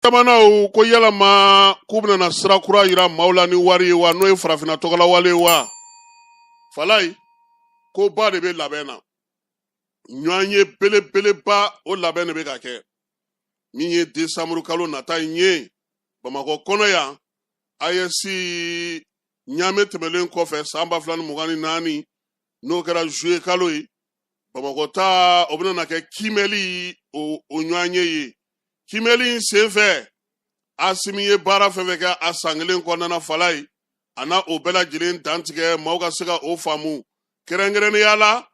jamanaw ko yalama k'u bɛna sira kura yira maaw la ni wari ye wa n'o ye farafinna tɔgɔla wari ye wa falayi koba de bɛ labɛn na ɲɔgɔnye belebeleba o labɛn de bɛ ka kɛ min ye desanburu kalo nata in ye bamakɔ kɔnɔ yan ayɛsi ɲamɛ tɛmɛlen kɔfɛ san ba fila ni mugan ni naani n'o kɛra zuye kalo ye bamakɔ ta o bɛna kɛ kiimɛli o ɲɔgɔnye ye kiimɛli in senfɛ asimi ye baara fɛn fɛn kɛ a san kelen kɔnɔna falayi a na o bɛɛ lajɛlen dantigɛ maaw ka se ka o faamu kɛrɛnkɛrɛnnenya la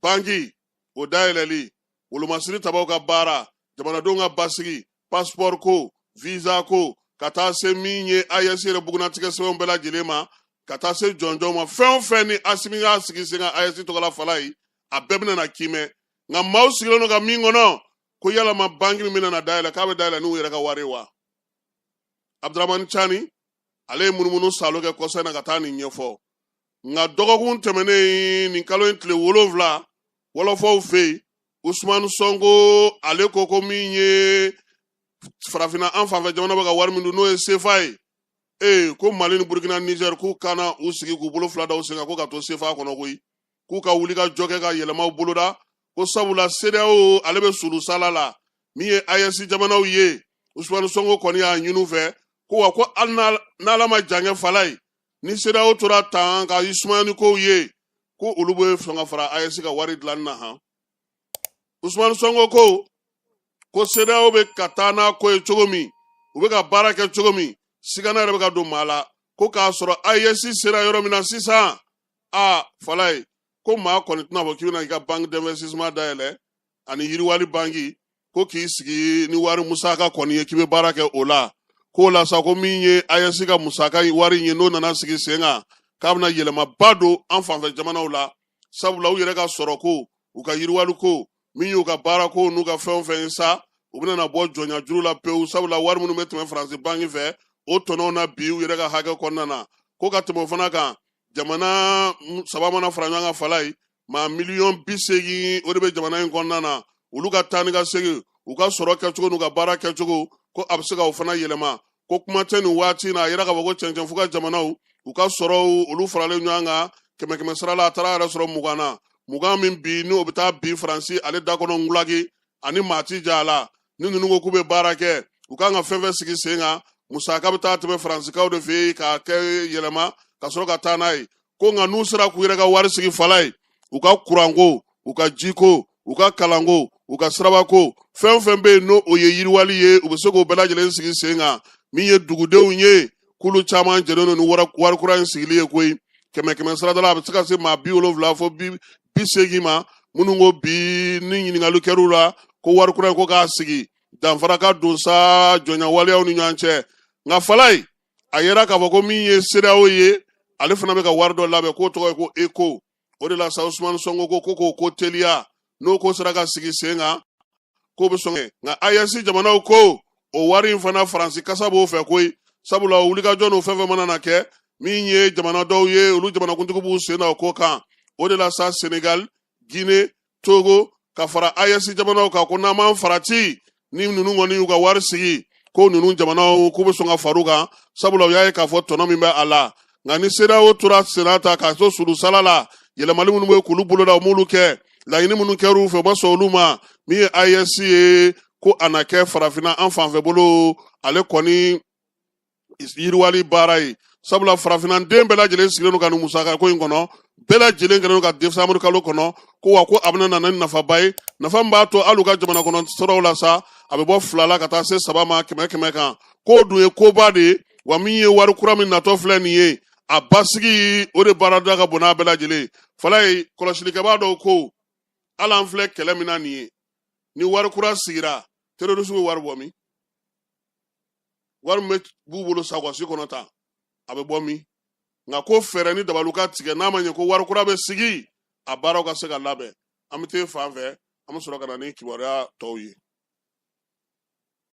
banki o dayɛlɛli wolomasiri tabaw ka baara jamanadenw ka basigi pasipɔri ko viza ko ka taa se min ye ayɛsi yɛrɛ bugunnatigɛ sɛbɛnw bɛɛ lajɛlen ma ka taa se jɔnjɔn ma fɛn o fɛn ni asimi y'a sigi sen kan ayɛsi tɔgɔla falayi a bɛɛ bɛna na kiimɛ nka maaw sigilen don ka min kɔnɔ ko yalama banki min bɛna dayɛlɛ k'a bɛ dayɛlɛ n'u yɛrɛ ka wari wa abdramani cani ale ye munumunu saalo kɛ kɔsa in na ka taa nin ɲɛfɔ nka dɔgɔkun tɛmɛnen nin kalo in tile wolonwula wɔlɔfɔw fɛ yen usumani sɔnko ale ko ko min ye farafinna an fanfɛ jamana bɛ ka wari min dun n'o ye sefa ye ee ko mali ni burukina nizɛri k'u kana u sigi k'u bolo fila da u sen kan ko ka to sefa kɔnɔ koyi k'u ka wulikajɔ kɛ ka yɛlɛmaw boloda ko sabula sedeyawo ale bɛ sulusala la min ye ayɛsi jamanaw ye usumani sonko kɔni y'a ɲini u fɛ ko wa ko hali n'ala ma jankɛ falayi ni sedeyawo tora tan ka u sumaya ni kow ye ko olu bɛ sɔn ka fara ayɛsi ka wari dilanni na han usumani sonko ko ko sedeyawo bɛ ka taa n'a ko ye cogo min u bɛ ka baara kɛ cogo min sigana yɛrɛ bɛ ka don maa la ko k'a sɔrɔ ayɛsi sera yɔrɔ min na sisan aa falayi ko maa kɔni tɛna fɔ k'i bɛna i ka banque d'investissement dayɛlɛ ani yiriwali banki ko k'i sigi ni wari musaka kɔni ye k'i bɛ baara kɛ o la k'o la sa ko min ye ayɛsi ka musaka wari in ye n'o nana sigi sen kan k'a bɛna yɛlɛmaba don an fanfɛ jamanaw la sabula u yɛrɛ ka sɔrɔ ko u ka yiriwali ko min y'u ka baara ko n'u ka fɛn o fɛn ye sa u bɛna bɔ jɔnya juru la pewu sabula wari minnu bɛ tɛmɛ faransi banki fɛ o tɔnɔw na bi u yɛrɛ ka hakɛ kɔnɔna na ko ka tɛmɛ o fana kan jamana saba mana fara ɲɔgɔn kan falayi maa miliyɔn bi seegin o de bɛ jamana in kɔnɔna na olu ka taa ni ka segin u ka sɔrɔ kɛcogo n'u ka baara kɛcogo ko a bɛ se ka o fana yɛlɛma ko kuma tɛ nin waati in na a yɛrɛ ka fɔ ko cɛncɛn fu kan jamanaw u ka sɔrɔw olu faralen ɲɔgɔn kan kɛmɛ kɛmɛ sara la a taara yɛrɛ sɔrɔ mugan na mugan min bi n'o bɛ taa bi faransi ale da kɔnɔ ngulaki ani maa ti ja a la ni ninnu ko k'u bɛ baara kɛ u kan ka fɛn fɛn sigi sen kan musaka bɛ taa tɛmɛ faransikaw de fɛ yen k'a kɛ yɛlɛma ka sɔrɔ ka taa n'a ye ko nka n'u sera k'u yɛrɛ ka wari sigi falayi u ka kuranko u ka jiko u ka kalanko u ka sirabako fɛn fɛn bɛ yen n'o o ye yiriwali ye u bɛ se k'o bɛɛ lajɛlen sigi sen kan min ye dugudenw ye k'olu caman jɛlen don ni wari kura in sigili ye koyi kɛmɛ kɛmɛ sarada la a bɛ se ka se maa bi wolonwula fo bi bi seegin ma minnu ko bi ni ɲininkali kɛr'u la ko wari kura in ko k'a sigi danfara ka don sa jɔnya waleyaw ni ɲɔgɔn cɛ nka falayi a yɛrɛ k'a fɔ ko min ye sedeyawo ye ale fana bɛ ka wari dɔ labɛn k'o tɔgɔ ye ko eko o de la sa usumani sɔnko ko k'o ko teliya n'o ko sera ka sigi sen kan k'o bɛ sɔn nka ayɛsi jamanaw ko o wari in fana faransi kasa b'o fɛ koyi sabula o wulikajɔ n'o fɛn fɛn mana na kɛ min ye jamana dɔw ye olu jamanakuntigi b'u sen na o ko kan o de la sa senegal guine togo ka fara ayɛsi jamanaw kan ko n'an m'an farati ni ninnu kɔni y'u ka wari sigi ko ninnu jamanaw k'u bɛ sɔn ka far'u kan sabula u y'a ye k'a fɔ tɔnɔ min bɛ a la nka ni sedeyawo tora senna ta k'a to sulusala la yɛlɛmali minnu bɛ k'olu boloda u m'olu kɛ laɲini minnu kɛr'u fɛ u ma sɔn olu ma min ye ayɛsi ye ko a na kɛ farafinna an fanfɛ bolo ale kɔni yiriwali baara ye sabula farafinna den bɛɛ lajɛlen sigilen don ka nin musaka ko in kɔnɔ bɛɛ lajɛlen kɛlen don ka desanburu kalo kɔnɔ ko wa ko a bɛna na ni nafaba ye nafa min b'a to hali u ka jamana kɔnɔ sɔrɔw la sa a bɛ bɔ fila la ka taa se saba ma kɛmɛ kɛmɛ kan k'o dun ye koba de ye wa min ye wari kura min natɔ filɛ nin ye a basigi o de baarada ka bon n'a bɛɛ lajɛlen falayi kɔlɔsilikɛbaa dɔw ko hali an filɛ kɛlɛ min na nin ye ni wari kura sigira terorisiw bɛ wari bɔ min wari min b'u bolo sakɔsi kɔnɔ tan a bɛ bɔ min nka ko fɛɛrɛ ni dabaliw ka tigɛ n'a ma ɲɛ ko wari kura bɛ sigi a baaraw ka se ka labɛn an bɛ t'e fan fɛ an bɛ sɔrɔ ka na ni kibaruya tɔw ye